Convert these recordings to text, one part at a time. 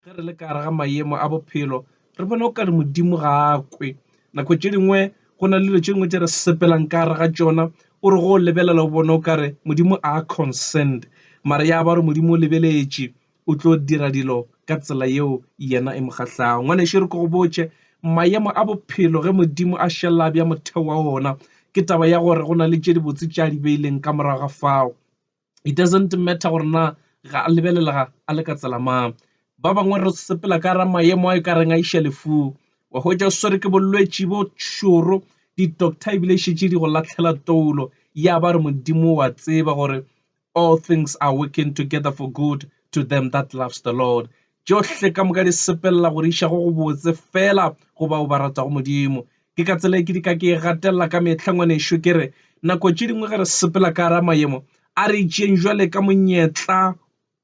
ge re le ka gare ga mayemo a bophelo re bona o kare modimo ga a kwe nako tše dingwe go na le dilo tše dingwe tše re sepelang ka gare ga tšona o re go lebelela o bona o kare modimo a concerned mare ya ba re modimo o lebeletše o tlo dira dilo ka tsela yeo yena e mo kgahlago ngwaneše re ko go botše mayemo a bophelo ge modimo a šelela bja motheo wa ona ke taba ya gore go na le tše dibotse tša di beileng ka morago ga fao It doesn't matter gore na ga a lebelelega a le ka tsela mang. Ba bangwe re sepela ka ra maemo a e ka reng a iša lefung. Wa hwetša o swere ke bolwetši bo šoro, di-doctor ebile e šetše di go latlhela toulo. Ya ba re Modimo wa tseba gore all things are working together for good to them that loves the Lord. Tšohle ka moka di sepelela go di iša go gobotse feela go bao ba ratago Modimo. Ke ka tsela e ke di ka ke e gatelela ka mehla, ngwanešu. Ke re, nako tše dingwe ge re sepela ka gara mayemo, a re tšeeng jwale ka monyetla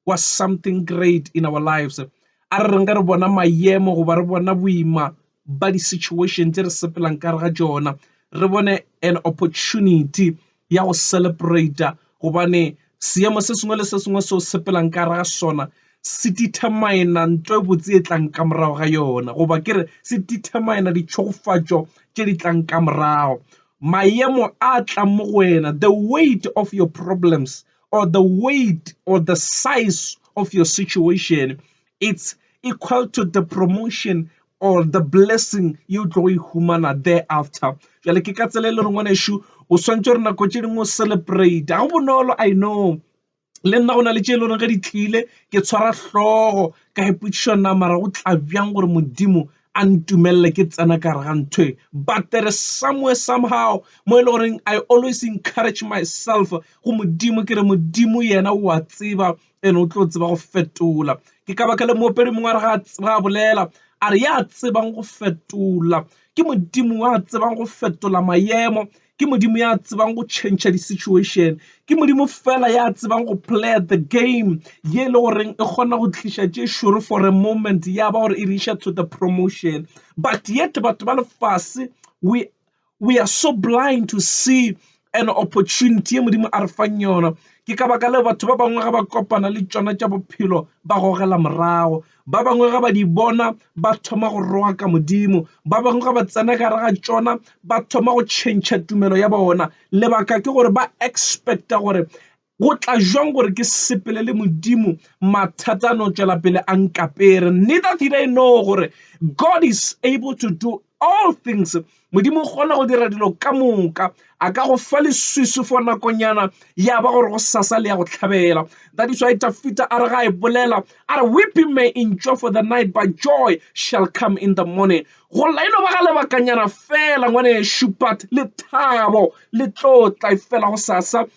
wa something great in our lives. A re reng ge re bona mayemo goba re bona boima ba di-situation tše re sepelang ka gare ga tšona, re bone an opportunity ya go celebrate gobane seemo se sengwe le se sengwe seo sepelang ka gare ga sona se determine nto e botse e tlang ka morago ga yona goba ke re se determine ditšhogofatšo tše di tlang ka morago maemo a tlang mo go wena the weight of your problems or the weight or the size of your situation It's equal to the promotion or the blessing you tlo e humana thereafter jale ke ka tsela e le reng ngwanešu o swantse re nako tše dingwe o celebrate ga go bonolo i know le nna go na le tše e le goreng ge di tlile ke tshwara hlogo ka ipotšišo na mara go tla bjang gore modimo a ntumelele ke tsena ka gare ga ntho e but there is somewhere somehow mo e le goreng i always encourage myself go modimo ke re modimo yena o a tseba ene o tlo tseba go fetola ke ka baka le moopedi mongwe a re ga tseba a bolela a re ya tsebang go fetola ke modimo wa tsebang go fetola mayemo ke modimo ya tsebang go change di-situation ke modimo fela ya tsebang go play the game ye e le goreng e kgona go tliša tše šoro for a moment ya ba gore e re iša to the promotion but yet batho ba lefase we We are so blind to see an opportunity ye Modimo a re fang yona. Ke ka baka leo batho ba bangwe ga ba kopana le tšona tša bophelo ba gogela morago. Ba bangwe ga ba di bona ba thoma go roa ka Modimo. Ba bangwe ga ba tsena gare ga tšona ba thoma go tšhentšha tumelo ya bona. Lebaka ke gore ba expecta gore Go tla jwang gore ke sepele le Modimo mathata a no tšwela pele a nkapere? Neither did I know gore God is able to do all things. Modimo o kgona go dira dilo ka moka. A ka go fa leswiswi for nakonyana ya ba gore go sasa le ya go tlhabela. That is why Tafita a re ga e bolela a re weeping may endure for the night but joy shall come in the morning. Go lla e no ba ga lebakanyana fela ngwanešu but lethabo le tlo tla e fela go sasa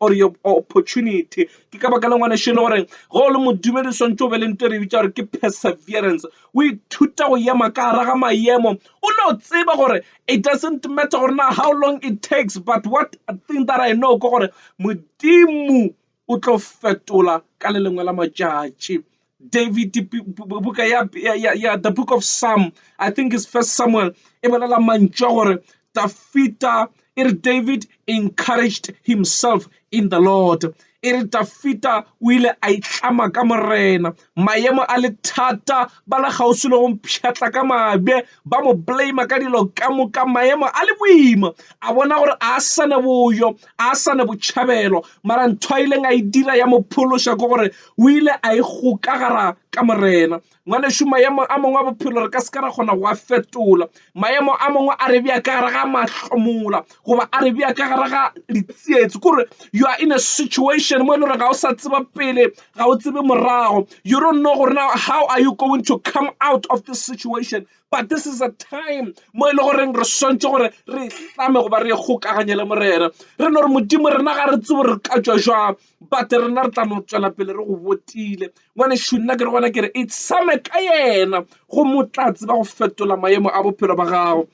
or your opportunity. Ke ka baka la ngwanešu e le gore ge o le modumedi o swantse o be le nto e re bitša gore ke perseverance. O ithuta go ema ka gara ga maemo o no tseba gore it doesn't matter gore na how long it takes but what thing that I know ke gore modimo o tlo fetola ka le lengwe la matšatši. David, buka ya, ya, ya, ya the book of Psalm, I think it's first Samuel, e bolela mantšu a gore Dafita, e re David encouraged himself in the Lord. E re Dafita o ile a itlama ka morena. Maemo a le thata, ba le kgauswi le go mpšhatla ka mabe, ba mo blame ka dilo ka moka maemo a le boima a bona gore a sa ne boyo a sa ne botšhabelo mara ntho a ileng a e dira ya mo phološa ke gore o ile a e gokagara ka morena ngwanešu maemo a mangwe a bophelo re ka se ka ra kgona go a fetola maemo a mangwe a re bja ka gare ga mahlomola goba a re bea ka gare ga ditsietsi kore you are in a situation mo e le gore ga o sa tseba pele ga o tsebe morago you don't know gore now how are you going to come out of this situation but this is a time mo e le goreng re swantse gore re hlame goba re kgokaganye le morena re no re modimo rena ga re tsebo re ka tswa jwang but rena re tla no tswela pele re go botile ngwane shu nna ke re gona ke re itsame ka yena go motlatsi ba go fetola maemo a bophelo ba gago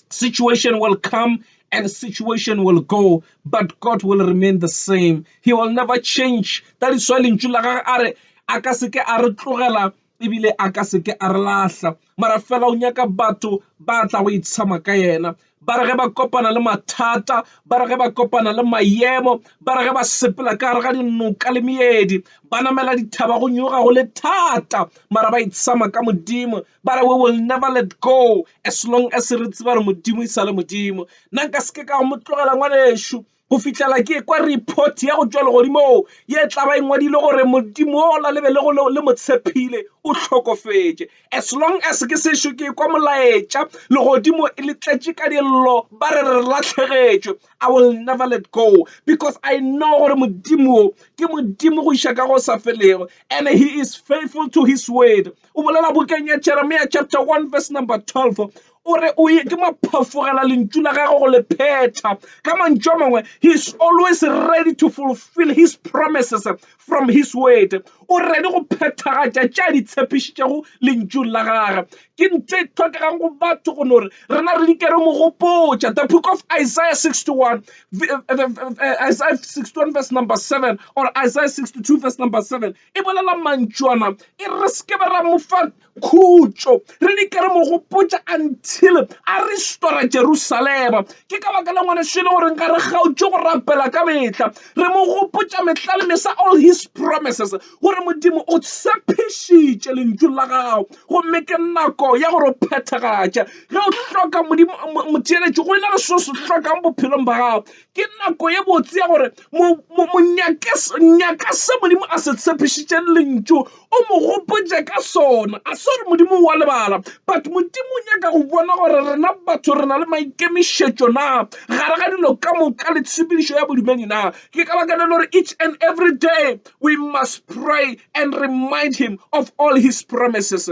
Situation will come and situation will go, but God will remain the same. He will never change. That is why lentšu la gagwe a re a ka seke a re tlogela ebile a ka seke a re lahla mara fela o nyaka batho ba tla go itshama ka yena ba re ge ba kopana le mathata ba re ge ba kopana le mayemo ba re ge ba sepela ka gare ga dinoka le meedi ba namela dithaba go nyoga go le thata mara ba itshama ka modimo Ba re, We will never let go as long as re tseba gore Modimo e sa le Modimo. Nna nka se ke ka go mo tlogela ngwanešu go fihlela ke ekwa report ya go tšwa legodimong ye e tla ba e ngwadile gore Modimo o la lebe le go le mo tshepile o hlokofetše. As long as ke sešo ke ekwa molaetša legodimo e le tletše ka dillo ba re re latlhegetšwe, I will never let go because I know gore Modimo ke Modimo go iša ka go sa felego and he is faithful to his word. o bolela bukeng ya jeremia chapter 1 verse number 12 o re o ye ke maphafogela lentšu la gagwe go le phetha ka mantšu a mangwe he is always ready to fulfill his promises from his word o ready go phethagatša tša di tshepišitšego lentšung la gagwe ke ntho e tlhokegang go batho go no re rena re di kere mogopotša the book of isaiah 61 isaiah 61 verse number 7 or isaiah 62 verse number 7 e bolela mantšwana e re se ke be ra mo fa khutšo re di ke re mo gopotša until a re stora jerusalema ke ka baka le ngwaneso e le gore nka re kgaotše go rapela ka mehla re mo gopotša mehla le mesa all his promises gore modimo o tshepišitše lentšu la gago gomme ke nako ya gore o phethagatša ge o hloka modimo motšeletši go e na le seo se hlokang bophelong ba gago Ke nako ye botse ya gore nyaka se Modimo a se tshepišitšeng lentšu, o mo gopotše ka sona. A se gore Modimo o a lebala, but Modimo o nyaka go bona gore rena batho re na le maikemišetšo na, gare ga dilo ka moka le tshepedišo ya bodumedi na. Ke ka baka leo e le gore each and every day we must pray and remind Him of all His promises.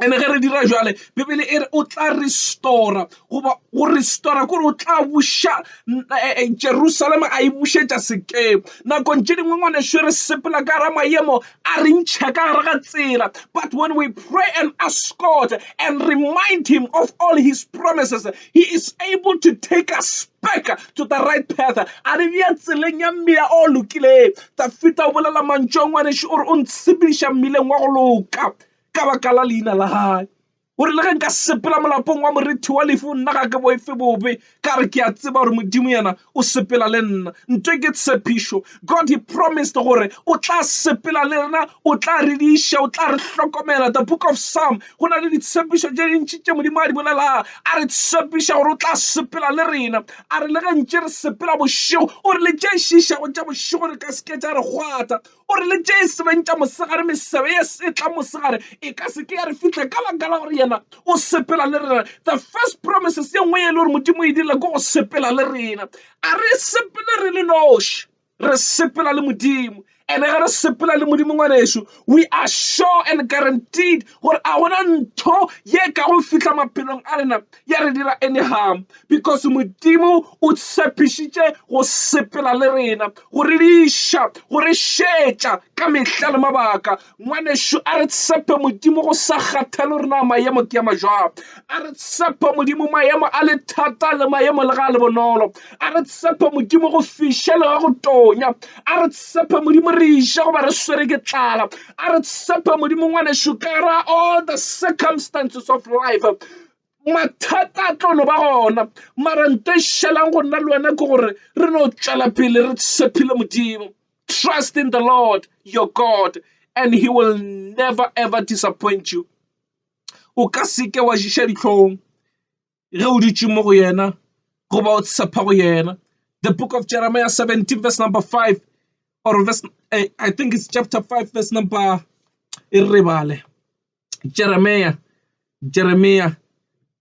ene ge re dira jale bibele e re o tla restora goba go restora kore o tla buša eh, eh, jerusalema a e bušetša sekemo nakong tše dingwe ngwaneso re sepela ka ra mayemo a re ntšha ka gare ga tsela but when we pray and ask god and remind him of all his promises he is able to take us back to the right path a re bja tseleng ya mmila o lokileng tafita o bolela mantšong ngwaneso o re o ntshepediša mmileng wa go loka ka baka la leina la hae. O rile, Ge nka sepela molapong wa morethi wa lefu, nna ga ke boife bobe, ka re ke a tseba gore Modimo yena o sepela le nna. Nto e ke tshepišo. God he promised gore o tla sepela le rena, o tla re diša, o tla re hlokomela. The book of Psalm, go na le ditshepišo tše dintši tše Modimo a di bolelago. A re tshepiša gore o tla sepela le rena. A re le ge ntše re sepela bošego, o re le tše šišago tša bošego re ka seke tša re kgwatha. O re le tše sebeng tša mosegare, mesebe ye setla mosegare e ka se ke ya re fihla ka baka la gore yena o sepela le rena. The first promises ye nngwe e le gore Modimo e dirile ke go sepela le rena. A re sepele re le noši, re sepela le Modimo. And ge re sepela le Modimo ngwanešu, we are sure and guaranteed gore a gona ntho ye ka go fihla maphelong a rena ya re dira anyhow because modimo o tshepišitše go sepela le rena go re diša go re šetša ka mehla le mabaka ngwanešu a re tshepe modimo go sa kgathalo rena maemo ke ya majwang a re tshepe modimo maemo a le thata le maemo le ga le bonolo a re tshepe modimo go fišele ga go tonya a re tshepe modimo re iša goba re swere ke tlala a re tshepe modimo ngwanešu ka ra all the circumstances of life mathata a tlo no ba gona mara nto e šelang go nna le wena ke gore re no tšwela pele re tshepile modimo trust in the lord your god and he will never ever disappoint you o ka seke wa šiša ditlhong ge o dutše mo go yena goba o tshepha go yena. The book of Jeremiah 17 verse number 5 or verse eh, I think it's chapter 5 verse number e re bale Jeremiah Jeremiah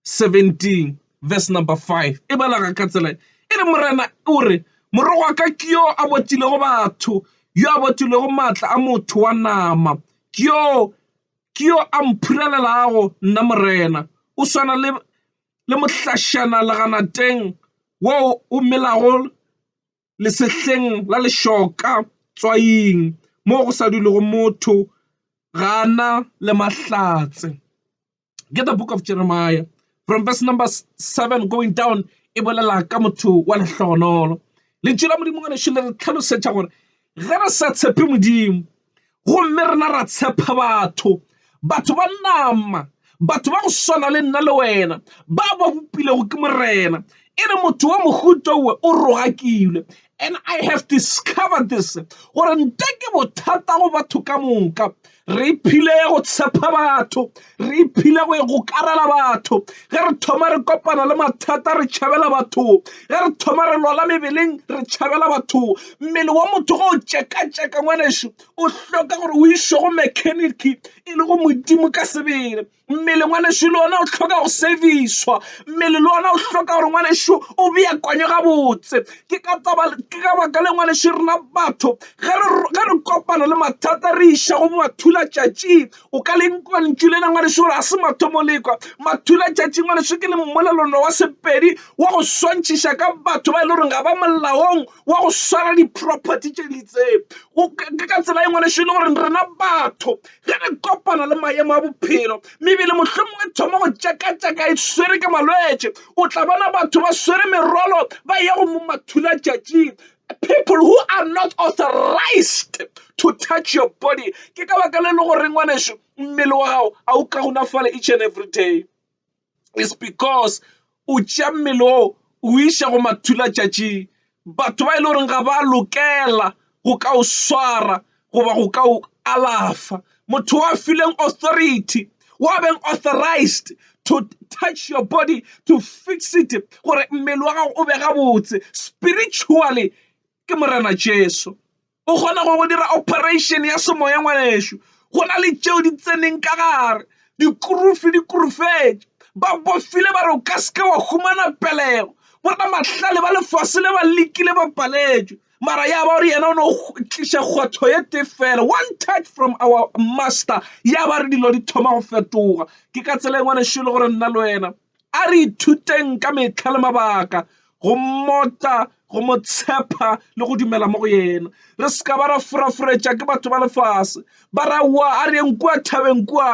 17 verse number 5 e balaga ka tsela e re morena o re moro wa ka ke yo a botilego batho yo a botilego maatla a motho wa nama ke yo ke yo a mphurelelago nna Morena. O swana le mohlašana leganateng wo o melago lesehleng la lešoka tswaing mo go sa dulego motho, ga a na le mahlatse. Ke the Book of Jeremiah From verse number 7 going down, e bolela ka motho wa lehlogonolo. Lentšu la Modimo ngwanešu le re tlhalosetša gore ge re sa tshepe Modimo gomme rena ra tshepa batho batho ba nama batho ba go swana le nna le wena ba ba bopilego ke morena e re motho wa mohuta owe o rogakilwe and i have discovered this gore nte ke bothata go batho ka moka re iphile go tshepa batho re iphile go e gokarela batho ge re thoma re kopana le mathata re tšhabela batho ge re thoma re lwala mebeleng re tšhabela batho mmele wa motho go o tšeka-tšeka ngwaneso o hloka gore o išwe go mechanic e le go modimo ka sebele Mmele ngwanešu le ona o hloka go service-wa. Mmele le ona o hloka gore ngwanešu o beakanywe gabotse. Ke ka baka leo ngwanešu rena batho ge re kopana le mathata re iša go mathulatšatšing. O ka le kwa lentšu lena ngwanešu gore ga se mathomo le ekwa. Mathulatšatši ngwanešu ke lengwelelano wa Sepedi wa go swantšhiša ka batho ba e le goreng ga ba molaong wa go swara di-property tše di itseng. Ke ka tsela e ngwanešu e le gore rena batho ge re kopana le maemo a bophelo mebele mohlomong e thoma go tšakatšaka e swere ke malwetše o tla bona batho ba swere merwalo ba ya go momathula tšatšing people who are not authorized to touch your body ke ka baka le le gore ngwaneso mmele wa gago a o ka gonafale each and every day is because o tšea mmele o o iša go mathula tšatšing batho ba e le goreng ga ba lokela go ka o swara goba go ka o alafa motho wa fileng authority wa beng authorized to touch your body to fix it gore mmele wa gago o be gabotse spiritually ke Morena Jesu. O kgona go go dira operation ya semoya ngwanešu go na le tšeo di tseneng ka gare dikurufi di kurufetše ba bofile ba re o ka seke wa humana pelego borna mahlale ba lefase le ba lekile ba paletšwe mara ya ba gore yena o ne o tliša kgwatho ye te fela one touch from our master ya ba re dilo di thoma go fetoga ke ka tsela e ngwanešu e le gore nna le wena A re ithuteng ka mehla le mabaka go mmota, go mo tshepa le go dumela mo go yena. Re se ka ba ra furafuretša ke batho ba lefase ba ra wa a re eng kua thabeng kua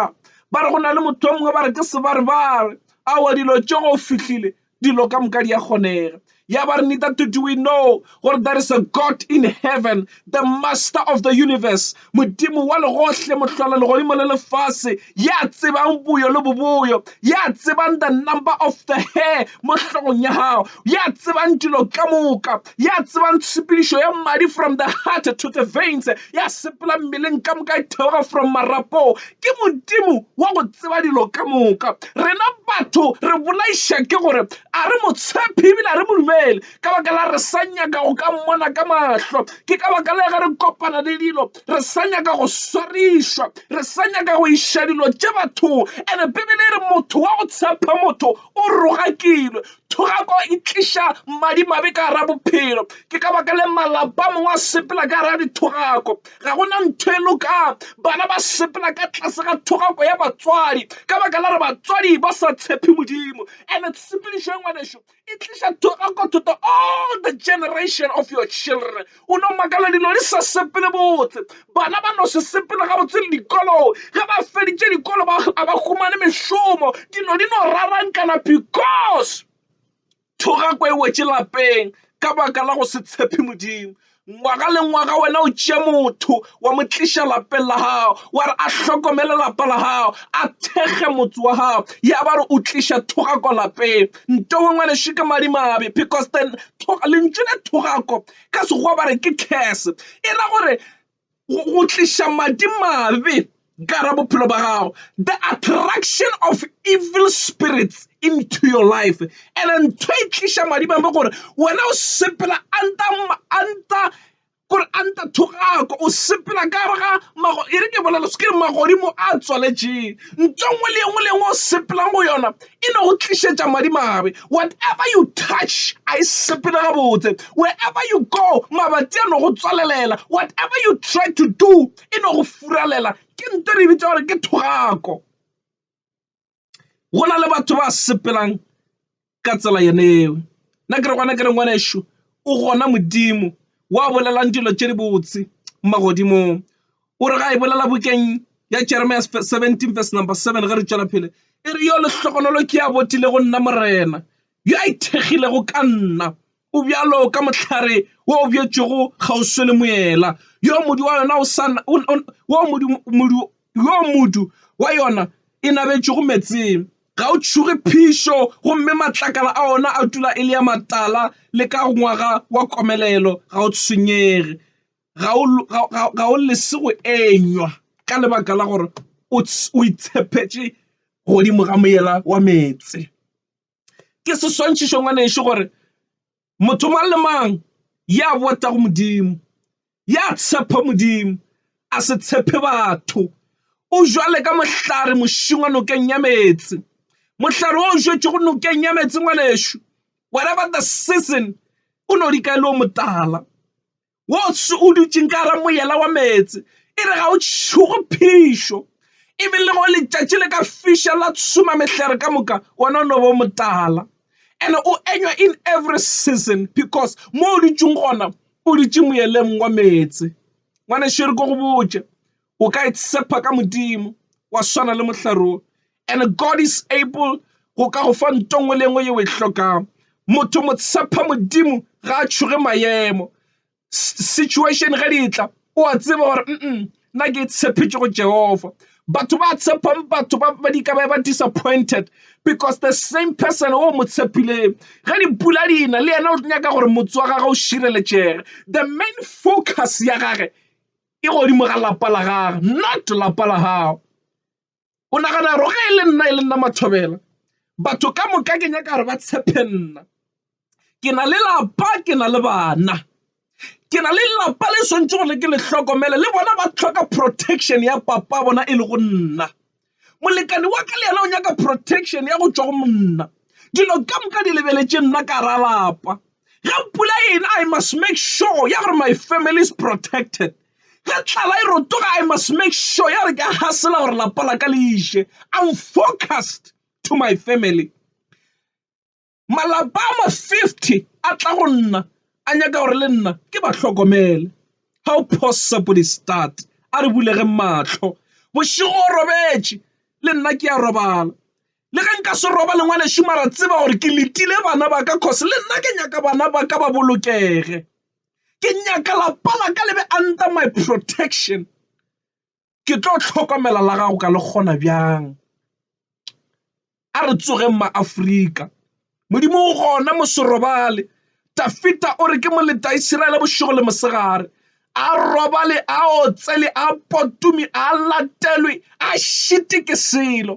ba re go na le motho mongwe ba re ke sebarebare. Aowa dilo tše go fihlile dilo ka moka di a kgonega. Ya ba re nita to do we know gore there is a God in heaven, the master of the universe, modimo wa legohle, mohlola legodimo le lefase, ya tsebang boyo le boboyo, ya tsebang the number of the hair mo hlogong ya gago, ya tsebang dilo ka moka, ya tsebang tshepedišo ya madi from the heart to the veins, ya sepela mmeleng ka moka e theoga from marapo, Ke Modimo wa go tseba dilo ka moka. Rena batho re bolaiša ke gore a re mo tshephe ebile a re mo dumele ka baka la re sa nyaka go ka mmona ka mahlo. Ke ka baka la ge re kopana le dilo re sa nyaka go swarišwa, re sa nyaka go iša dilo tše bathong. And-e Bibele e re motho wa go tshepha motho o rogakilwe. Thogako e tliša madimabe ka gare ga bophelo. Ke ka baka le malapa a mangwe a sepela ka gare ga dithogako. Ga go na ntho e lokang. Bana ba sepela ka tlase ga thogako ya batswadi ka baka la gore batswadi ba sa tshepe Modimo. And tshepedišo ye ngwanešu e tliša thogako to the all the generation of your children. O no makala dilo di sa sepele botse. Bana ba no se sepele gabotse le dikolong. Ge ba feditše dikolo ba a ba humane mešomo. Dilo di no rarankana because Thogako e wetše lapeng ka baka la go se tshepe Modimo. Ngwaga le ngwaga wena o tšea motho wa mo tliša lapeng la gago, wa re a hlokomele lapa la gago, a thekge motse wa gago, ya ba re o tliša thogako lapeng. Ntowe ngwanešu ke madimabe because then lentšu le thogako ka Sekgowa ba re ke curse, e ra gore go tliša madimabe ka gare ga bophelo ba gago, the attraction of evil spirits into your life. And-e ntho e tliša madimabe ke gore wena o sepela under kore under thogako, o sepela ka gare ga e re ke bolela se ke re magodimo a tswaletšweng. Ntho e nngwe le e nngwe le e nngwe o sepelang go yona, e no go tlišetša madimabe. Whatever you touch a e sepele gabotse. Wherever you go mabati a no go tswalelela. Whatever you try to do e no go furalela. Ke nto e re bitsa gore ke thogako. Go na le batho ba sepelang ka tsela yone eo. Nna ke re gona ke re ngwanešu o gona Modimo wa bolelang dilo tše dibotse magodimong. o re ga e bolela bukeng ya jeremia 17 verse number 7 ge re tšwela phele e re yo lehlogonolo ke ya botile go nna morena yo a ithekgilego ka nna o bjalo ka mohlare wo o bjetšego kgauswe le moela yo modu wa yona o sa wo modu modu yo modu wa yona e nabetšego metseng ga o tšhuge phišo gomme matlakala a ona a tula e le ya matala le ka ngwaga wa komelelo ga o tshwenyege ga o lese go enywa ka lebaka la gore o itshepetše godimo ga moyeng wa meetse. Ke seswantšhetšo ngwanešu gore motho mang le mang ya botegago Modimo, ya tshepha Modimo, a se tshepe batho. O bjalo ka mohlare mošung wa nokeng ya meetse. Mohlare o jwetšwego nokeng ya meetse ngwanešu, whatever the season o no di kae le o motala. wo o dutšeng ka gara moyela wa meetse e re ga o tšhogo phišo e be le go letšatši le ka fiša la tshuma mehlare ka moka wona o no bo motala and o enywa in every season because mo o dutšeng gona o dutše moyeleng wa meetse ngwane šere ko go botše o ka itshepa ka modimo wa swana le mohlare o and god is able go ka go fa nto nngwe le nngwe yeo e hlokang motho mo tshepa modimo ga a tšhoge maemo situation ge di tla o a tseba gore mm nna ke tshepetše go jehova batho ba tshepang batho ba di ka ba disappointed because the same person o mo tshepileng ge dipula di na le yena o nyaka gore motse wa gagwe o šireletšege the main focus ya gage e godimo ga lapa la gagwe not lapa la gago o nagana gore ge e le nna e le nna mathobela batho ka moka ke nyaka gore ba tshepe nna ke na le lapa ke na le bana ke na le lelapa le swantse gore ke le hlokomele le bona ba tlhoka protection ya papa bona e le go nna molekane wa ka le yena o nyaka protection ya go tšwa go monna dilo ka moka di lebeletše nna ka ra lapa ga pula ena i must make sure ya gore my family is protected ga tlala e rotoga i must make sure ya gore ke a gasela gore lapa la ka le iše i'm focused to my family Malapa a ma-50 a tla go nna a nyaka gore le nna ke ba hlokomele. How possible is that? A re bulegeng mahlo. Bošego o robetše, le nna ke a robala. Le ge nka se robale, ngwanešu, mara tseba gore ke letile bana ba ka cause le nna ke nyaka bana ba ka ba bolokege. Ke nyaka lapa la ka le be under my protection. Ke tlo hlokomela la gago ka le kgona bjang. A re tsogeng ma Afrika Modimo o gona mo se robale. Tafita o re ke mo leta Iseraele bošego le mosegare. A robale a otsele a potume a latelwe a šite ke selo.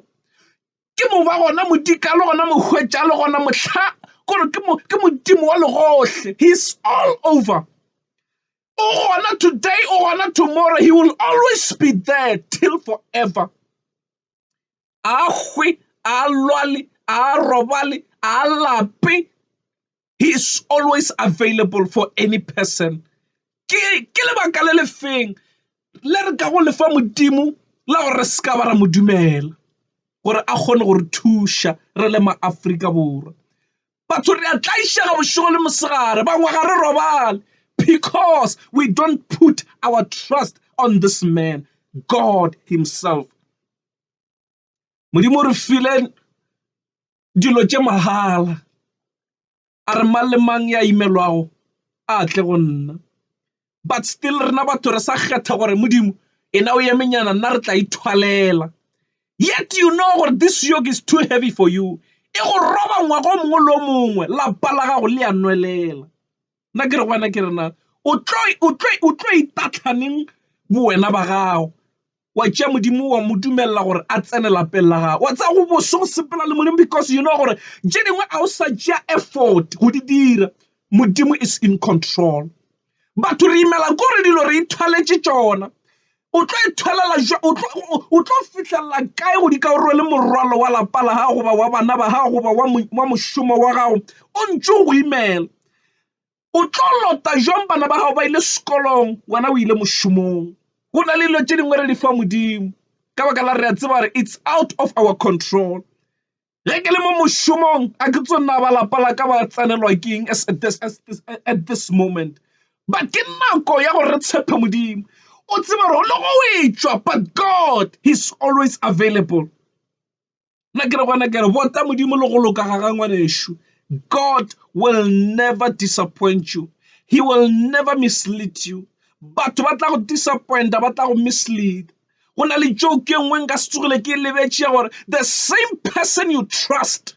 Ke mo ba gona modika le gona mohwetša le gona mohla gore ke mo ke modimo wa legohle he is all over. O gona today, o gona tomorrow. He will always be there till forever. A hwe, a lwale, a robale, a lape. He is always available for any person. Ke ke lebaka le lefeng le re ka go lefa modimo la gore re se ka ba ra modumela gore a kgone gore thuša re le maafrika borwa batho re a tlaišega bošego le mosegare bangwe ga re robale because we don't put our trust on this man god himself modimo re file dilo tše mahala a re mang le mang ya imelwago a tle go nna but still rena batho re sa kgetha gore modimo ena o emenyana nna re tla ithwalela yet you know gore this yoke is too heavy for you e go roba ngwaga o mongwe le o mongwe lapa la gago le ya nwelela nna ke re gwana ke rena o tlo itatlhaneng bowena ba gago wa tšea Modimo wa mo dumelela gore a tsene lapeng la gago wa tsaya go boso go sepela le Modimo because you know gore tše dingwe a o sa tšea effort go di dira Modimo is in control batho re imela ko re dilo re ithwaletše tšona o tlo ithwalela o tlo fitlhelela kae go di ka o rwele morwalo wa lapa la gago goba wa bana ba gago goba wa mošomo wa gago o ntše o go imela o tlo lota jwang bana ba gago ba ile sekolong wena o ile mošomong go na le dilo tše dingwe re di fa modimo ka baka la re a tseba gore it's out of our control ge ke le mo mošomong a ke tso nna ba lapa la ka ba tsenelwa ke eng as at this, as this, at this moment but ke nako ya gore re tshepe modimo o tseba gore le go etswa but god he's always available Nna ke re gona ke re bota modimo le go loka ga ga ngwanešu God will never disappoint you he will never mislead you batho ba tla go disappointa ba tla go mislead go na le joke e nngwe nka se tsogile ke lebetše ya gore the same person you trust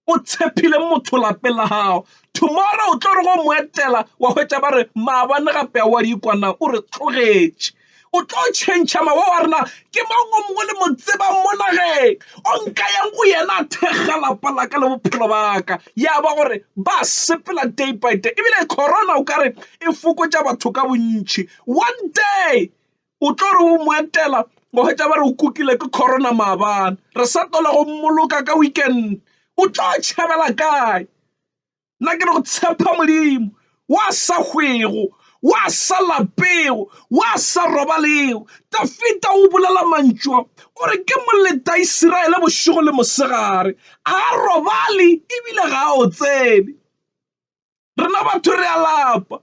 o tshepile motho lapeng la gago tomorrow o tlo re go mo etela wa hwetša ba re maabane gape a wa di ikwana o re tlogetše o tlo tšhentšha mawa wa rena ke mang o mongwe le mo tseba mo nageng o nka yang go yena a thekga lapa la ka le bophelo baka ya ba gore ba sepela day by day ebile corona o kare e fokotša batho ka bontšhi one day o tlo re o mo etela go hwetša ba re o kukile ke corona maabane re sa tola go mmoloka ka weekend o tlo tšhabela kae nna ke re go tshepa modimo wa sa hwego wa sa lapego wa sa robalego dafita o bolela mantšwa o re ke moleta isiraele bošego le mosegare a robale ebile ga o tsebe Rena batho re a lapa.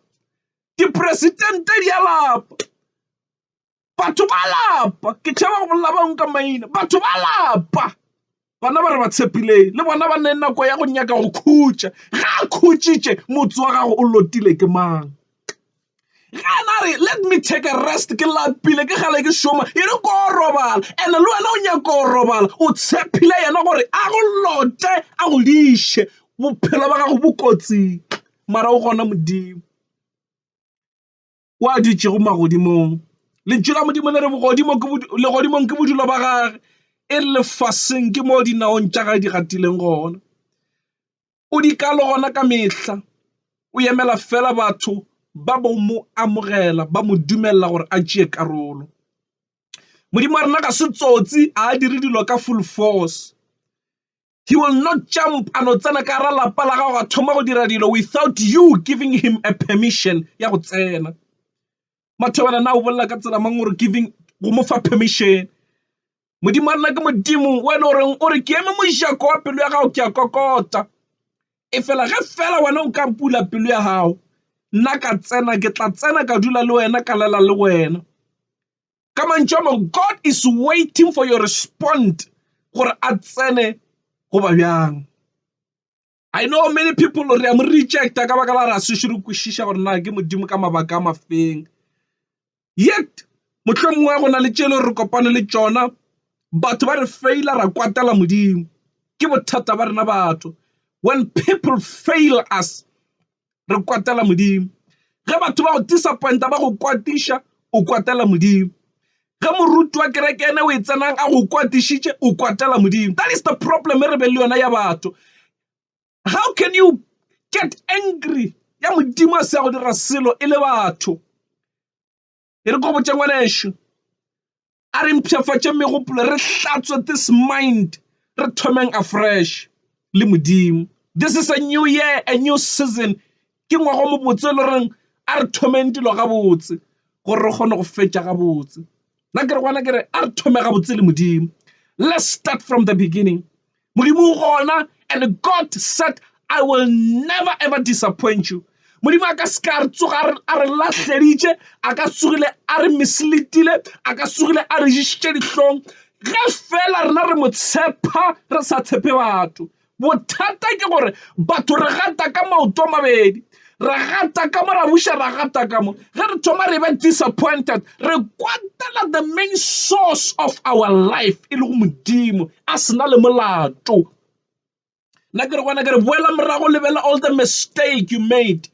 Dipresidente di a lapa. Batho ba lapa. Ke tšhaba go bolela bangwe ka maina. Batho ba lapa. Bana ba re ba tshepileng. Le bona ba ne nako ya go nyaka go khutša. Ga a khutšitše, motse wa gago o lotile ke mang? ge a na re let me take a rest ke lapile ke gale ke šoma e re ko robala and le wena o nyaka go robala o tshephile yena gore a go lote a go diše bophelo ba gago bo kotsing mara o gona modimo wa dutšego magodimong. Lentšu la Modimo le re bogodimo ke legodimong ke bodulo ba gage e lefaseng ke mo dinaong tša gae di gatileng gona. O di ka le gona ka mehla, o emela fela batho ba bo mo amogela ba mo dumella gore a tšee karolo. Modimo wa rena ga se tsotsi ha a dire dilo ka full force. He will not jump a no tsena ka gare lapa la gago a thoma go dira dilo without you giving him a permission ya go tsena. Mathobela na o bolela ka tsela mang gore giving go mo fa permission. Modimo a nna ke modimo o e le goreng o re ke eme mojako wa pelo ya gago ke a kokota e fela ge fela wena o ka mpula pelo ya gago nna ka tsena ke tla tsena ka dula le wena ka lela le wena ka mantšu a mang God is waiting for your respond gore a tsene goba bjang. I know many people re a mo rejecta ka baka la ra se šoro kwešiša gore na ke modimo ka mabaka a mafeng yet mohlomongwe go na le tšelo re kopane le tšona batho ba re faila ra kwatela modimo ke bothata ba rena batho when people fail us re kwatela Modimo. Ge batho ba go disappointa ba go kwatiša o kwatela Modimo. Ge moruti wa kereke ene o e tsenang a go kwatišitše o kwatela Modimo. That is the problem e re be le yona ya batho. How can you get angry ya Modimo a se ya go dira selo e le batho? e re ko botša ngwanešu a re mpshafatše megopolo re hlatswe this mind re thomeng a fresh le modimo this is a new year a new season ke ngwago mobotse le reng a re thomeng dilo gabotse gore re kgone go fetša gabotse nna ke re gona ke re a re thome gabotse le modimo let's start from the beginning Modimo o gona and God said I will never ever disappoint you. Modimo a ka se ka re tsoga a re lahleditše a ka tsogile a re misleadile a ka tsogile a re išitše dihlong ge fela rena re mo tshepa re sa tshepe batho bothata ke gore batho re gata ka maoto a mabedi ra gata ka mo ra buša ra gata ka mo ge re thoma re be disappointed re kwatela the main source of our life e le go modimo a sena le molato nna ke re gona ke re boela morago lebela all the mistake you made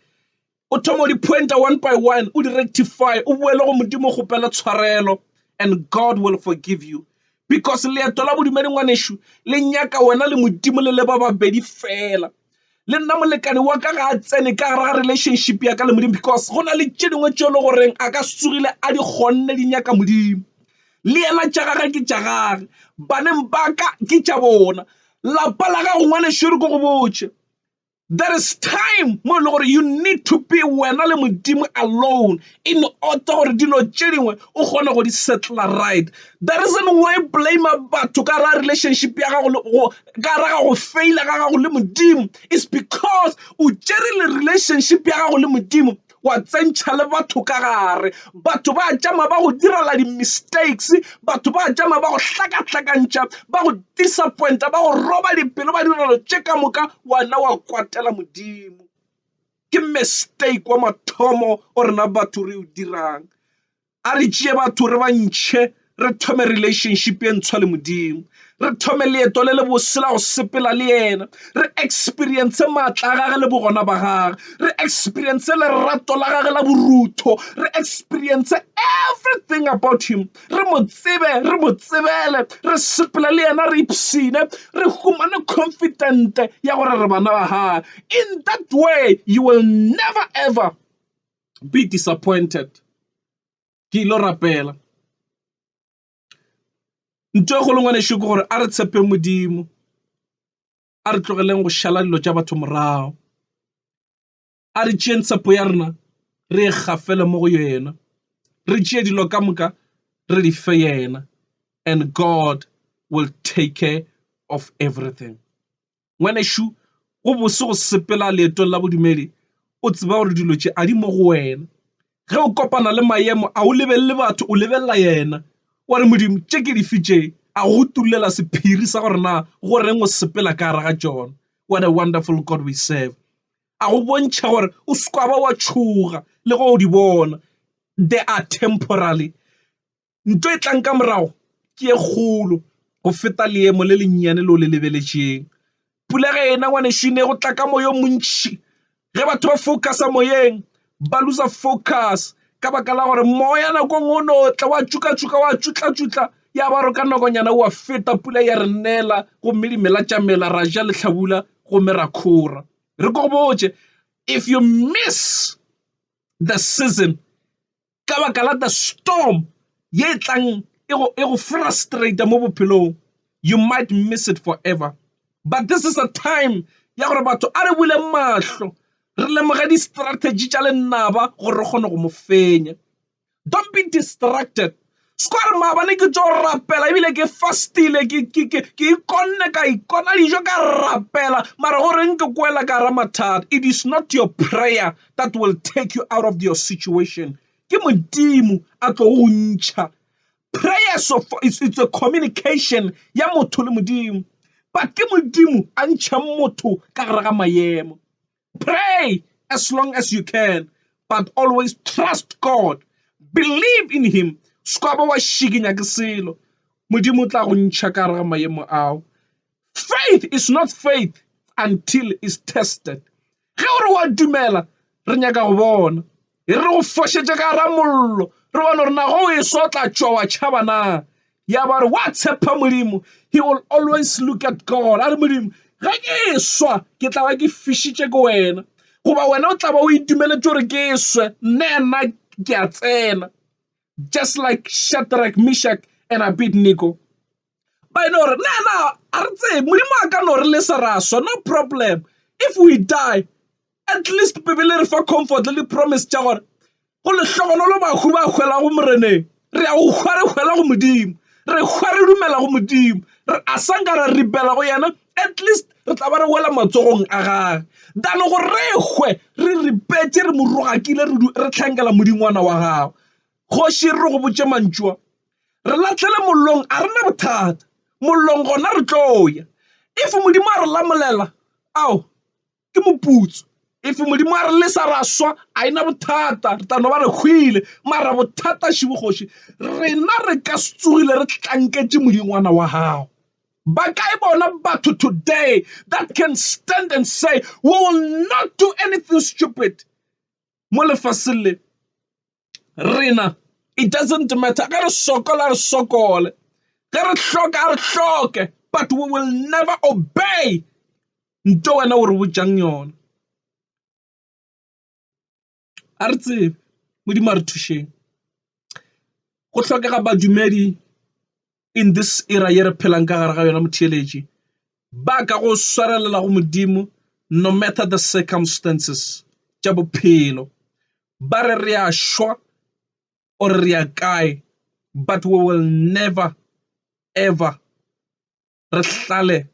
o thoma o di-pointer one by one o di-rectify o boele go modimo kgopela tshwarelo and god will forgive you because leeto la bodumedi ngwanešu le nyaka wena le modimo le le ba babedi fela le nna molekane wa ka ga a tsene ka gare ga relationship ya ka le modimo because go na le tše dingwe tše e le goreng a ka se tsogile a di kgonne di nyaka modimo le yena tša gage ke tša gage baneng ba ka ke tša bona lapa la gago ngwanešori ko go botše there is time mo e le gore you need to be wena le modimo alone in order gore dilo tše dingwe o kgone go di settler right the reason why blame batho ka ra relationship ya gago ka gare ga go feila ga gago le modimo is because o tšere le relationship ya gago le modimo wa tsentšha le batho ka gare batho ba tšama ba go direla di-mistakes batho ba tšama ba go hlakahlakantšha ba go disappointa ba go roba dipelo ba direlo tše ka moka wena wa kwatela modimo ke mistake wa mathomo o rena batho re o dirang A re tšee batho re ba ntšhe re thome relationship ye ntshwa le modimo re thome leeto le le bose la go sepela le yena re experience maatla a gage le bogona ba gage re experience lerato la gage la borutho re experience everything about him re mo tsebe re mo tsebele re sepela le yena re ipsine re humane confident ya gore re bana ba gage in that way you will never ever be disappointed ke ile rapela ntho e kgolo ngwanešu ke gore a re tshepe modimo a re tlogeleng go šala dilo tša batho morago a re tšeeng tshepo ya rena re e gafele mo go yena re tšee dilo ka moka re di fe yena and god will take care of everything ngwanešu go bose go sepela leetong la bodumedi o tseba gore dilo tše a di mo go wena ge o kopana le maemo a o lebelele batho o lebelela yena wa re modimo tše ke di fitše a go tulela sephiri sa gore na go reng o sepela ka gare ga tšona what a wonderful god we serve a go bontšha gore o sekwa ba wa tšhoga le go di bona they are temporally Nto e tlang ka morago ke e kgolo go feta leemo le lennyane leo le lebeletšeng. Pula ge e na, ngwanešu, e ne go tla ka moya o montši. Ge batho ba focusa moyeng, ba loser focus ka baka la gore moya nako nngwe o no tla wa tšhuka-tšhuka, wa tšutla-tšutla, ya ba re ka nakonyana wa feta, pula ya re nela gomme dimela tša mela, ra ja lehlabula gomme ra kgora. Re ko go botše, if you miss the season, ka baka la the storm ye tlang e go e go frustrate mo bophelong you might miss it forever but this is a time ya gore batho a re bule mahlo re lemoge di-strategy tša lenaba gore re kgone go mo fenya don't be distracted Square maabane ke tšo rapela ebile ke fastile ke ikonne ka ikona dijo ka rapela mara go reng ke kwela ka ra mathata it is not your prayer that will take you out of your situation ke modimo a tlo go ntšha prayer so it's, it's a communication ya motho le modimo but ke modimo a ntšha motho ka gare ga mayemo Pray as long as you can, but always trust God. Believe in him. Se ka ba wa šikinya ke selo. Modimo tla go ntšha ka gare ga maemo ao. Faith is not faith until is tested. Ge o re wa dumela, re nyaka go bona. e re go fošetše ka gara mollo re bone gore nago o e sotla tšwa wa tšhaba na ya ba re wa tshepa modimo he will always look at god a re modimo ge ke e swa ke tla ba ke fišitše ke wena goba wena o tla ba o itumeletse gore ke e swe nne nna ke a tsena just like shadrach mishak and abednego ba e no re na na a re tsebe modimo a ka no re lesa ra swa no problem if we die at least bebele re fa comfort le di-promise tša gore go lehlogonolo bahu ba hwela go moreneng re a go hwa re hwela go modimo re hwa re dumela go modimo re a sa nka ra ripela go yena at least re tla ba re wela matsogong a gage dano go re hwe re ripetse re mo rogakile re tlhankela modingwana wa gago Kgoši e re re go botše mantšu a, Re lahlele mollong, a re na bothata, mollong gona re tlo ya. If Modimo a re lamolela, ao, ke moputso. If Modimo a re lesa ra swa, a e na bothata, re tla no ba re hwile. Mara bothata šebo kgoši, rena re ka se tsogile re tlanketše modingwana wa gago. Ba kae bona batho today that can stand and say we will not do anything stupid mo lefaseng le? rena it doesn't matter ge re sokola re sokole ge re hloka re hloke but we will never obey nto wena o re botšang yona a re tsebe modimo a re thušeng go hlokega badumedi in this era ye re phelang ka gare ga yona motheeletši, ba ka go swarelela go Modimo no matter the circumstances tša bophelo. Ba re re a šwa or re ya kae but we will never ever re hlale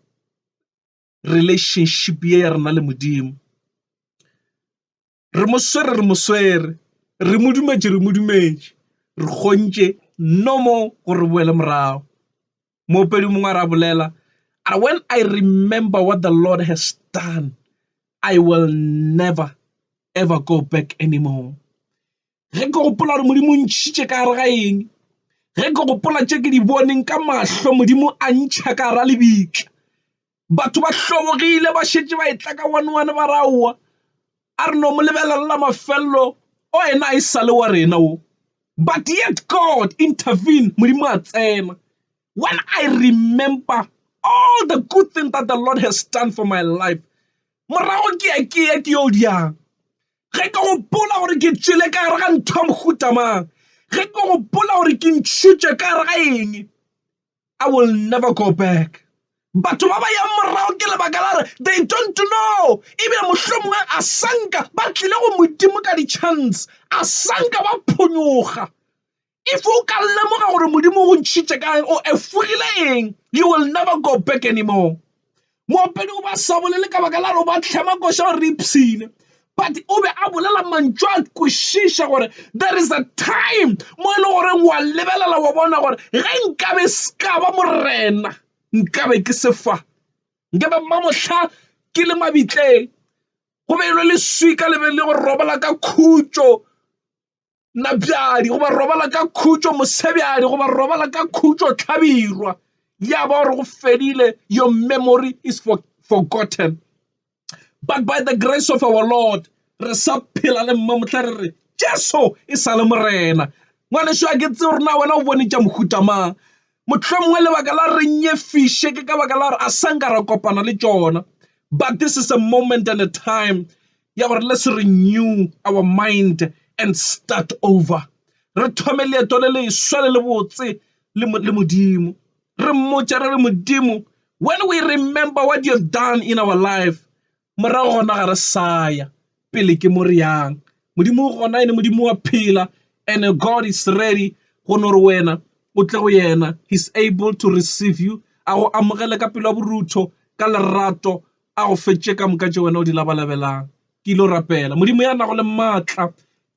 relationship ye ya rena le Modimo. Re mo swere, re mo swere. Re mo dumetše, re mo dumetše. Re kgontše no mo gore re boele morago. Moopedi mongwe a ra bolela, a when I remember what the Lord has done, I will never ever go back anymore. ge ke gopola gore modimo o ntšhitše ka gare ga eng ge ke gopola tše ke di boneng ka mahlo modimo a ntšha ka gara lebitla batho ba hlobogile ba šetše ba etla ka one one ba raowa a re no mo lebelelela mafelelo o ena a e sale wa rena o but yet god intervene modimo a tsena when i remember all the good thing that the lord has done for my life morago ke ya ke ya ke yo diyang ge ke gopola gore ke tšwele ka gare ga ntho ya mohutamang ge ke gopola gore ke ntšhutše ka gare ga eng i will never go back batho ba ba yang morago ke lebaka la re they don't know ebile mohlomongwe a sanka ba tlile go modimo ka di-chance a sanka ba phonyoga If o ka lemoga gore modimo o ntšhitše ka o efogile eng you will never go back anymore moopedi o ba sa bolele ka baka la gore o ba tlhema koša gore re ipshine but o be a bolela mantšu a kwešiša gore there is a time mo e le goreng wa lebelela wa bona gore ge nkabe se ka ba morena nkabe ke sefa nkabe mmamohla ke le mabitleng go be e le leswika le be le go robala ka khutšo napjadi goba robala ka khutšo mosebjadi goba robala ka khutšo tlhabirwa ya ba gore go fedile your memory is for, forgotten but by the grace of our lord re sa phela le mma motlha re re jesu e sa le morena ngwaneso a ke tse gore na wena o bone tša mohuta mang motlho mongwe lebaka la re nyefiše ke ka baka la gore a sanka ra kopana le tšona but this is a moment and a time ya gore let's renew our mind and start over re thome leeto le leswa le le botse le modimo re mmotša re le modimo when we remember what you have done in our life morago gona ga re saya pele ke mo re yang modimo gona ene modimo wa phela and god is ready go no re wena o tle go yena he's able to receive you a go amogele ka pelo ya borutho ka lerato a go fetše ka moka tše wena o di labalabelang. Ke ile go rapela Modimo ya nago le maatla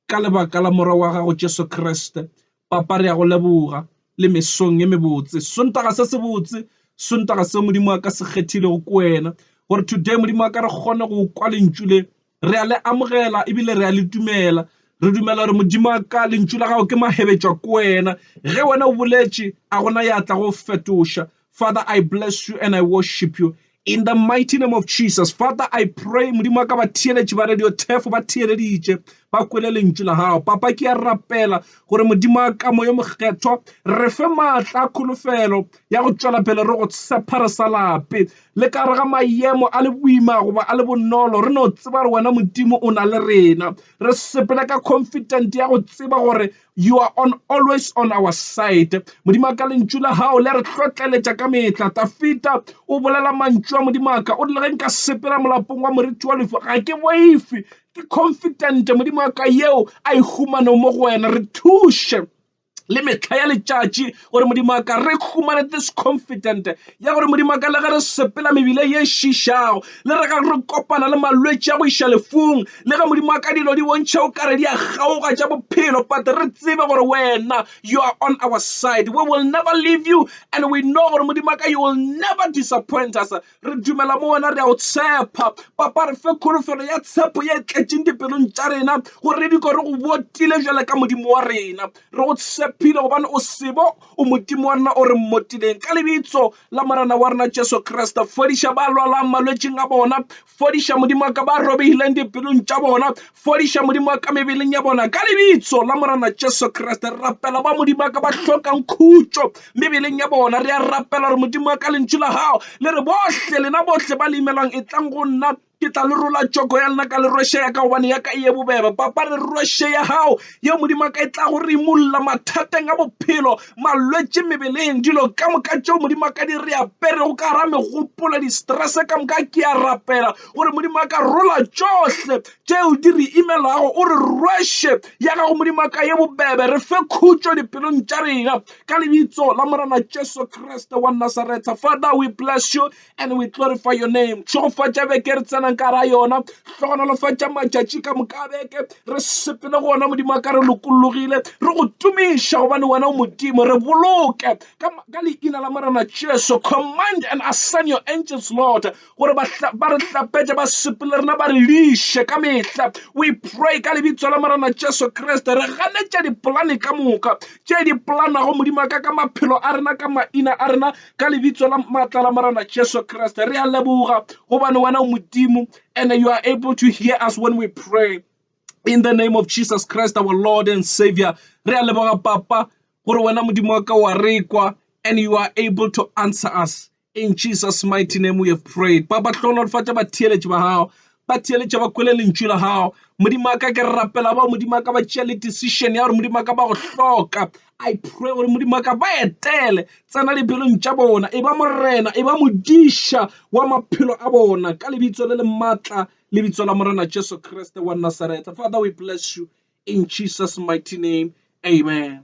ka lebaka la Morwa wa gago Jesu Kriste. Papa, re ya go leboga le mesong ye mebotse, Sontaga se sebotse, Sontaga seo Modimo wa ka se kgethilego ke wena, gore today Modimo wa ka re kgone go kwa lentšu le re a le amogela ebile re a le dumela. Re dumela gore Modimo wa ka lentšu la gago ke mahebetša ko wena ge wena o boletše a gona ya tla go fetoša. Father I bless you and I worship you in the mighty name of Jesus. Father I pray Modimo wa ka ba theeletše ba radio thefo ba theeleditše ba kwele lentšu la gago. Papa ke ya rapela gore Modimo wa ka moyo mokgethwa re fe maatla a kholofelo ya go tšwela pele re go tshepa re sa lape. Le ka gare ga mayemo a le boima goba a le bonolo, re no tseba gore wena Modimo o na le rena. Re sepela ka confident ya go tseba gore you are on always on our side. Modimo ka lentšu la gago le re hlotleletša ka mehla. Tafita o bolela mantšu a Modimo ka, o rile ge nka sepela molapong wa moriti wa lefu ga ke boife, ke confident Modimo ka yeo a e humano mo go wena. Re thuše le mehla ya letšatši gore modimo a ka re humane this confident ya gore modimo a ka le ge re sepela mebile ye šišago le re ga re kopana le malwetši a go iša lefung le ge modimo a ka dilo di bontšha o kare di a kgaoga tša bophelo but re tsebe gore wena you are on our side we will never leave you and we know gore modimo a ka you will never disappoint us Re dumela mo wena, re a o tshepa. Papa, re fe kholofelo ya tshepo ye tletšeng dipelong tša rena, gore re diko re go botile bjale ka Modimo wa rena. Re go tshepile gobane o sebo, o Modimo wa rena o re mmotileng. Ka lebitso la Morena wa rena Jesu Kriste, fodiša ba lwalang malwetšing a bona. Fodiša Modimo wa ka ba robegileng dipelong tša bona. Fodiša Modimo wa ka mebeleng ya bona ka lebitso la Morana Jesu Kriste. Re rapela ba Modimo wa ka ba hlokang khutšo mebeleng ya bona. Re a rapela gore Modimo wa ka lentšu la gago le re bohle lena bohle ba le imelwang e tlang go nna ke tla le rola tšoko ya lena ka le rweshe ya ka gobane ya ka e ye bobebe papa re rweshe ya gago ye modimo wa ka e tla go re imulla mathateng a bophelo malwetse mebeleng dilo ka moka tšeo modimo wa ka di re aperego ka gara megopolo di-stress ka moka ke a rapela gore modimo a ka rola tšohle tšeo di re imelago o re rweshe ya gago modimo a ka ye bobebe re fe khutšo dipelong tša rena ka lebitso la morena jesu kriste wa nasaretha father we bless you and we glorify your name tšhegofatša beke re tsenang ka ra yona tlogonolofatša matšatši ka moka beke re sepele go ona modimo a ka re lokologile re go tumiša gobane wena o modimo re boloke ka leina la morena jesu command and assign your angels lord gore ba re hlapetše ba sepele rena ba re liše ka mehla we pray ka lebitso la morena jesu kriste re ganetša dipolane ka moka tše di polanago modimo ka ka maphelo a rena ka maina a rena ka lebitso la maatla la morena jesu kriste re a leboga gobane wena o modimo and you are able to hear us when we pray in the name of jesus christ our lord and savior re a leboga papa gore wena modimo wa ka wa rekwa and you are able to answer us In Jesus' mighty name we have prayed. Ba ba hlohonolofatša batheeletši ba gago, ba theeletša ba kwele lentšu la gago. Modimo wa ka ke rapela bao Modimo wa ka ba tšea le decision ya gore Modimo wa ka ba go hloka. I pray gore Modimo wa ka ba etele, tsena dipelong tša bona, e ba morena, e ba modiša wa maphelo a bona ka lebitso le le maatla, lebitso la Morena Jesu Kriste wa Nazareth. Father, we bless you in Jesus' mighty name. Amen.